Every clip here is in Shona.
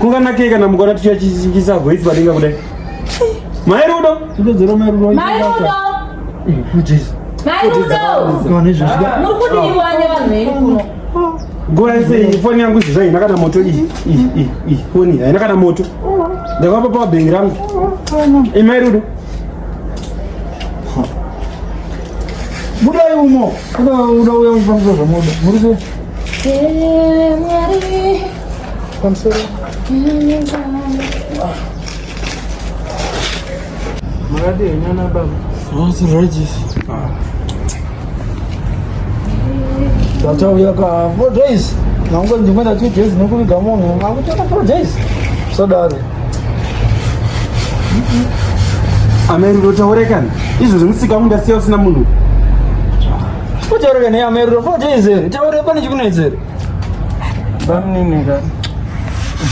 kunganakei kana mukona tichachingisa voice padenga kudai mai rudo ndodzodzera mai rudo mai rudo nguva yese iyi foni yangu izvi zvaina kana moto iyi foni haina kana moto ndakapa pabhengi rangu imai rudo budai umo uda uya uchipanguza zvamoda Muradi yenyana baba. What's Regis? Tatauya ka four days. Nangu ndimwe na two days nekuviga munhu. Makutoka four days. Sadari. Amen, ndotaureka. Izvo zvimusika mundasiya usina munhu. Ucharore ne amero for days here. Taure pane chikunetsa here. Bamnini ka.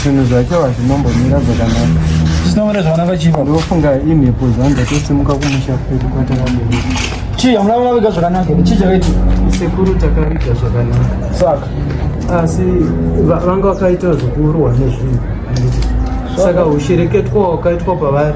Zvinhu zvacho hazvinombomira zvakanaka. Zvinomira zvakanaka chipo. Ndofunga imhepo dzanga tosimuka kumusha kwedu kwatakabereka. Chii hamuna kuvaviga zvakanaka here? Chii chakaita? Sekuru takaviga zvakanaka. Saka asi vanga vakaita zvokuurwa nezvinhu. Saka ushereketwa wakaitwa pavari.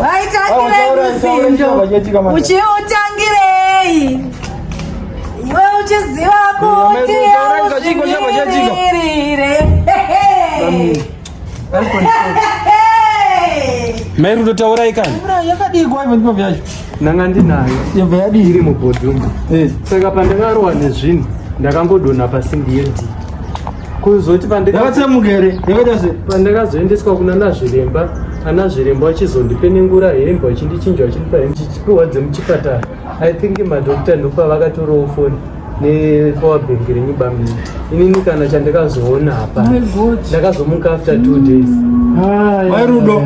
Waitangirei ruzindo uchiutangirei iwe uchiziva kuti auzvimirire Mai Rudo taurai kani. Mvura yakadii kwa hivyo ndivyo yacho. Nanga ndinayo. Yobva yadii iri mubhodhumba. Eh. Saka pandakarowa nezvinhu ndakangodona pasimbi yedii. kuzoti pandakatsemuka here yakaita se pandakazoendeswa kuna nazviremba anazviremba vachizondipenengura hembe vachindichinja vachindipa hembe chichipiwa dzemuchipatara i think madokta ndokuva vakatorawo foni nepower bank renyu bamini inini kana chandakazoona hapa ndakazomuka after two days wairudo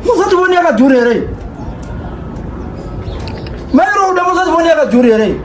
muzoti foni yakadhura here mairoda muzoti foni yakadhura here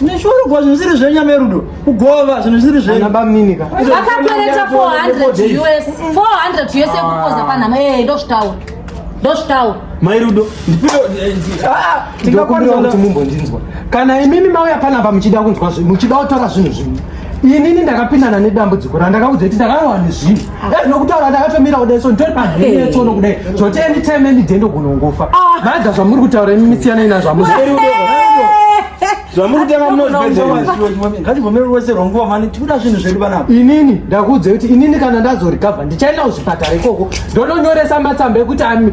Neshurugwa zvinhu zviri zvenyu amerudo kugova zvinhu zviri zvenyu vakakwereta 400 us 400 us ekukoza panhama ee eh, ndozvitaura ndozvitaura mairudo eh, ah, ah, kuti mumbondinzwa kana imimi mauya panapa muchida kunzwa zvinhu muchida kutora zvinhu zvinhu inini ndakapindana nedambudziko randakaudza kuti ndakawani zvinhu ah. nokutaura ndakatomira kudai so nditori panetsono kudai zvoti anytime any day ndogonongofa ah. madha zvamuri kutaura imi misiyana ina zvamuri inini ndakuudza kuti inini kana ndazorigavha ndichaenda kuzvipatara ikoko ndononyoresa matsamba ekuti